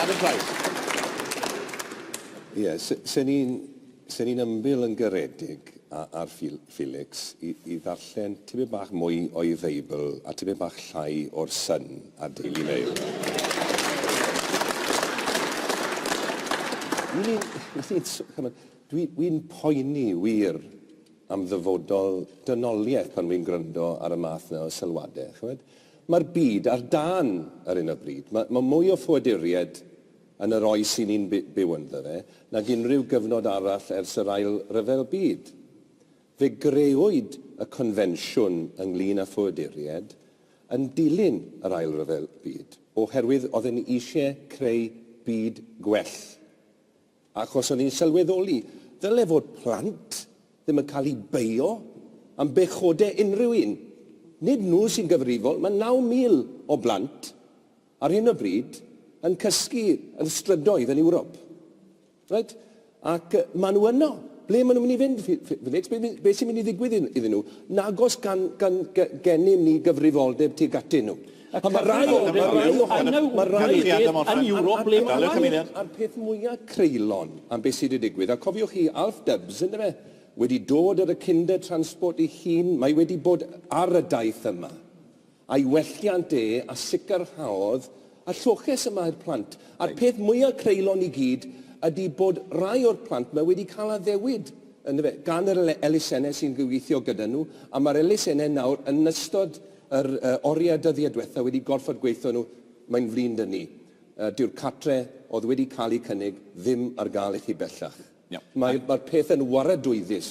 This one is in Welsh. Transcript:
Adam Price. Ie, se ni'n se ni'n ymbil yn garedig a, ar Phil, Felix i, i ddarllen tipyn bach mwy o'i Feibl a tipyn bach llai o'r Sun a'r Daily Mail. Dwi'n dwi poeni wir am ddyfodol dynoliaeth pan fi'n gwrando ar y math yna o sylwadau, chimod. Mae'r byd ar dân ar hyn o bryd. Mae, mae mwy o ffoaduriaid yn yr oes i ni'n by, byw ynddo fe nag unrhyw gyfnod arall ers yr Ail Ryfel Byd. Fe grëwyd y Confensiwn ynglŷn â Ffoaduriaid yn dilyn yr Ail Ryfel Byd, oherwydd oedd e'n eisiau creu byd gwell. Achos o'n i'n sylweddoli, ddyle fod plant ddim yn cael eu beio am bechodau unrhyw un. Nid nhw sy'n gyfrifol, mae 9,000 o blant ar hyn o bryd yn cysgu yn strydoedd yn Ewrop. Reit? Ac maen nhw yno. Ble maen nhw'n mynd i fynd, Felix? Be, be sy'n mynd i ddigwydd iddyn nhw? Nagos gan, gan, gennym ni gyfrifoldeb tuag atyn nhw. Ac mae rhai o hynny yn Ewrop, a mae rhai yn Ewrop ble mae rhai... A'r peth mwya creulon am beth sy 'di digwydd, a cofiwch chi, Alf Dubs, yndyfe, wedi dod ar y Kinder Transport ei hun, mae wedi bod ar y daith yma a'i welliant e, a sicrhaodd y lloches yma i'r plant. A'r peth mwya creulon i gyd ydi bod rhai o'r plant 'ma wedi cael addewid, yndyfe, gan yr elusennau sy'n gweithio gyda nhw, a mae'r elusennau nawr yn ystod Yr oriau dyddiau diwetha wedi gorffod gweitho nhw, mae'n flin dŷ ni. Dyw'r cartre oedd wedi cael eu cynnig ddim ar gael i chi bellach. Mae'r peth yn waradwyddus.